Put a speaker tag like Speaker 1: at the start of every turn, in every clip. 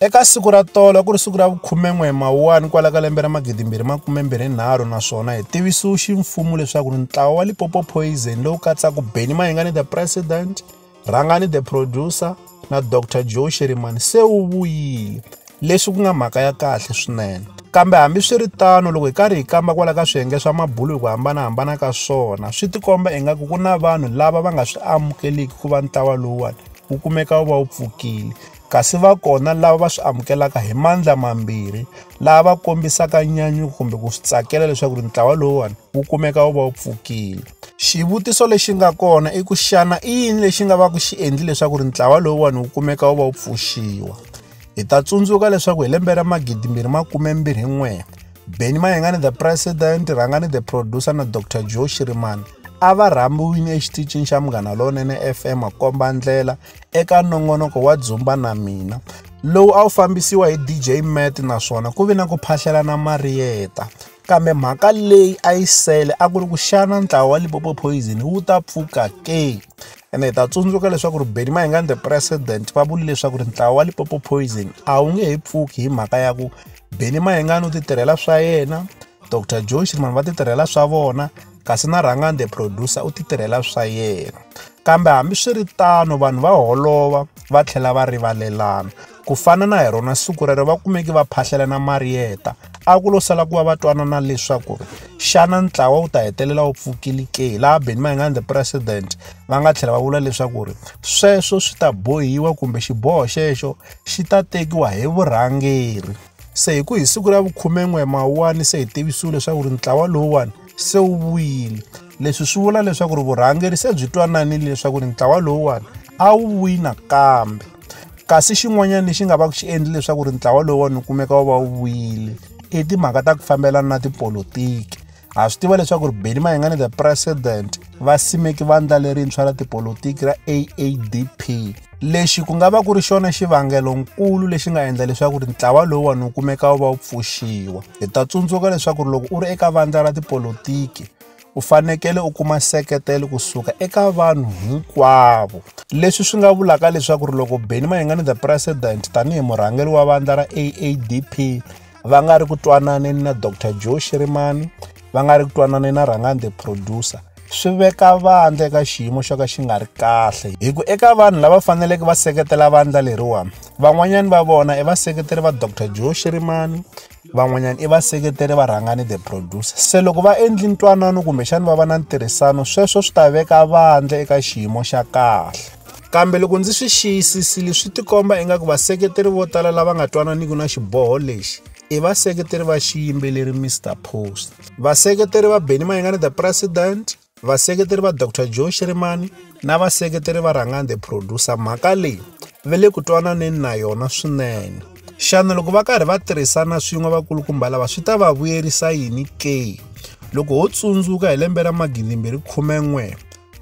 Speaker 1: Eka siku ra tolo ku ri siku ra vukhumen'we mawuwani kwala ka lembe ra magidi mbirhi makume mbirhi nharhu naswona hi tivisiwe ximfumo leswaku ri ntlawa wa Lipopo Poison lowu katsaka Benny Mayengani the President, Rhangani the Producer na Dr Joe Sherimani se wu vuyile leswi ku nga mhaka ya kahle swinene. Kambe hambi swi ri tano loko hi karhi hi kamba kwala ka swiyenge swa mabulo hi ku hambanahambana ka swona swi tikomba ingaku ku na vanhu lava va nga swi amukeliki ku va ntlawa lowuwani wu kumeka wu va wu pfukile Kasi va kona lava va swi amukelaka hi mandla mambirhi, lava va kombisaka nyanyuko kumbe ku swi tsakela leswaku ri ntlawa lowuwani wu kumeka wu va wu pfukile. Xivutiso lexi nga kona i ku xana i yini lexi nga va ku xi endli leswaku ri ntlawa lowuwani wu kumeka wu va wu pfuxiwa? Hi ta tsundzuka leswaku hi lembe ra magidimbirhi makumembirhi n'we, Benny Mayengani the President, Rhangani the Producer na Dr Joe Shirimani a va rhambiwini exitichini xa Munghana Lonene FM komba ndlela eka nongonoko wa Dzumba na Mina lowu a wu fambisiwa hi DJ Matt naswona ku ve na ku phahlelana Marieta kambe mhaka leyi a yi sele a ku ri ku xana ntlawa wa Limpopo Poison wu ta pfuka ke ene hi ta tsundzuka leswaku ri Benny Mayengani the president va vuli leswaku ri ntlawa wa Limpopo Poison a wu nge he pfuki hi mhaka ya ku Benny Mayengani u ti tirhela swa yena Dr Joe Shirimani va ti tirhela swa vona kasi na Rhangani the producer u ti tirhela swa yena kambe hambiswiritano vanhu va holova va tlhela va rivalelana ku fana na hi rona siku rero va kumeki va phahlelana mariyeta a ku lo sala ku va va twanana leswaku ri xana ntlawa wu ta hetelela wu pfukile ke laha beni mayingani the president va nga tlhela va vula leswaku ri sweswo swi ta bohiwa kumbe xiboho xexo xi ta tekiwa hi vurhangeri se hi ku hi siku ra vukhumen'we mawuwani se hi tivisiwile leswaku ri ntlawa lowuwani se wu vuyile leswi swi vula leswaku ri vurhangeri se byi twananile leswaku ri ntlawa lowuwani a wu vuyi nakambe kasi xin'wanyana lexi nga va ku xi endli leswaku ri ntlawa lowuwani wu kumeka wu va wu vuyile i timhaka ta ku fambelana na tipolotiki ha swi tiva leswaku ri beni mayengani the president va simeki vandla lerintshwa ra tipolotiki ra aadp lexi ku nga va ku ri xona xivangelonkulu lexi nga endla leswaku ri ntlawa lowuwani wu kumeka wu va wu pfuxiwa hi ta tsundzuka leswaku ri loko u ri eka vandla ra tipolotiki u fanekele u kuma seketelo kusuka eka vanhu hinkwavo leswi swi nga vulaka leswaku ri loko beni mayengani the president tanihi murhangeri wa vandla ra aadp va nga ri ku twananeni na dr joe shirimani va nga ri ku twananeni na rhangani the producer swi veka vandla eka xiyimo xo ka xi nga ri kahle hi ku eka vanhu lava faneleke va seketela vandla leriwani van'wanyani va vona i vaseketeri va dr joe shirimani van'wanyana i vaseketeri va rhangani the producer se loko va endli ntwanano kumbexani va va na ntirhisano sweswo swi ta veka vandla eka xiyimo xa kahle Kambe loko ndzi swi xiyisisile swi tikomba ingaku vaseketeri vo tala lava nga twananiki na xiboho lexi i vaseketeri va xiyimbeleri Mr Post. Vaseketeri va Benny Mayengani the President, vaseketeri va Dr Joe Shirimani na vaseketeri va Rhangani the Producer mhaka leyi ve le ku twananeni na yona swinene. Xana loko va karhi va tirhisana swin'we vakulukumba lava swi ta va vuyerisa yini ke? Loko ho tsundzuka hi lembe ra 2011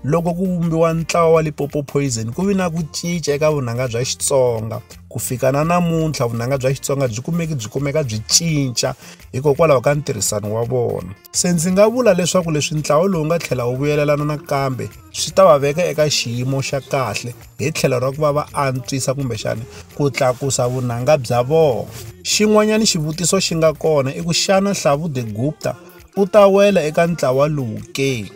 Speaker 1: loko ku vumbiwa ntlawa wa Limpopo Poison ku vi na ku cinca eka vunanga bya Xitsonga ku fika na namuntlha vunanga bya Xitsonga byi kumeki byi kumeka byi cinca hikokwalaho ka ntirhisano wa vona se ndzi nga vula leswaku leswi ntlawa lowu nga tlhela wu vuyelelana nakambe swi ta va veka eka xiyimo xa kahle hi tlhelo ra ku va va antswisa kumbexana ku tlakusa vunanga bya vona xin'wanyana xivutiso xi nga kona i ku xana Hlavu the Gupta u ta wela eka ntlawa lowu ke?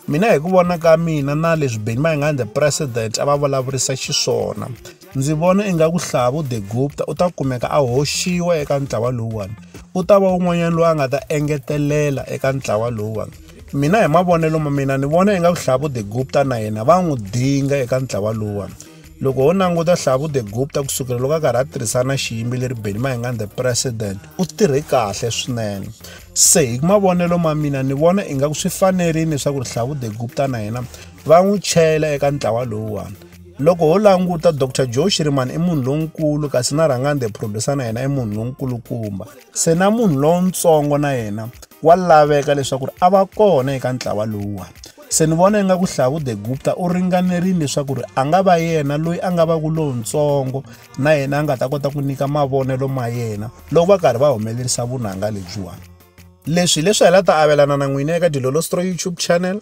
Speaker 1: Mina hi ku vona ka mina na leswi Benny Mayengani the president a va vulavurisa xiswona ndzi vona ingaku Hlavu de Gupta u ta kumeka a hoxiwa eka ntlawa lowuwani u ta va un'wanyana loyi a nga ta engetelela eka ntlawa lowuwani mina hi mavonelo ma mina ni vona ingaku Hlavu de Gupta na yena va n'wi dinga eka ntlawa lowuwani loko ho languta hlavu the gupta ku sukela loko a karhi a tirhisana na xiyimbeleri benny mahingani the president u tirhe kahle swinene se hi mavonelo ma mina ni vona ingaku swi fanerile leswaku ri hlavu the gupta na yena va n'wi chela eka ntlawa lowuwani loko ho languta dr joe shirimani i munhu lonkulu kasi na rhangani the producer na yena i munhu lonkulukumba Se na munhu lontsongo na yena wa laveka leswaku a va kona eka ntlawa lowuwa. Se ni vona ingaku Hlavu de Gupta u ringanerile leswaku a nga va yena loyi a nga va ku lontsongo na yena a nga ta kota ku nyika mavonelo ma yena loko va karhi va humelerisa vunanga lebyiwani. Leswi hileswi hi la ta avelana na n'wina eka Dilolostroy YouTube channel.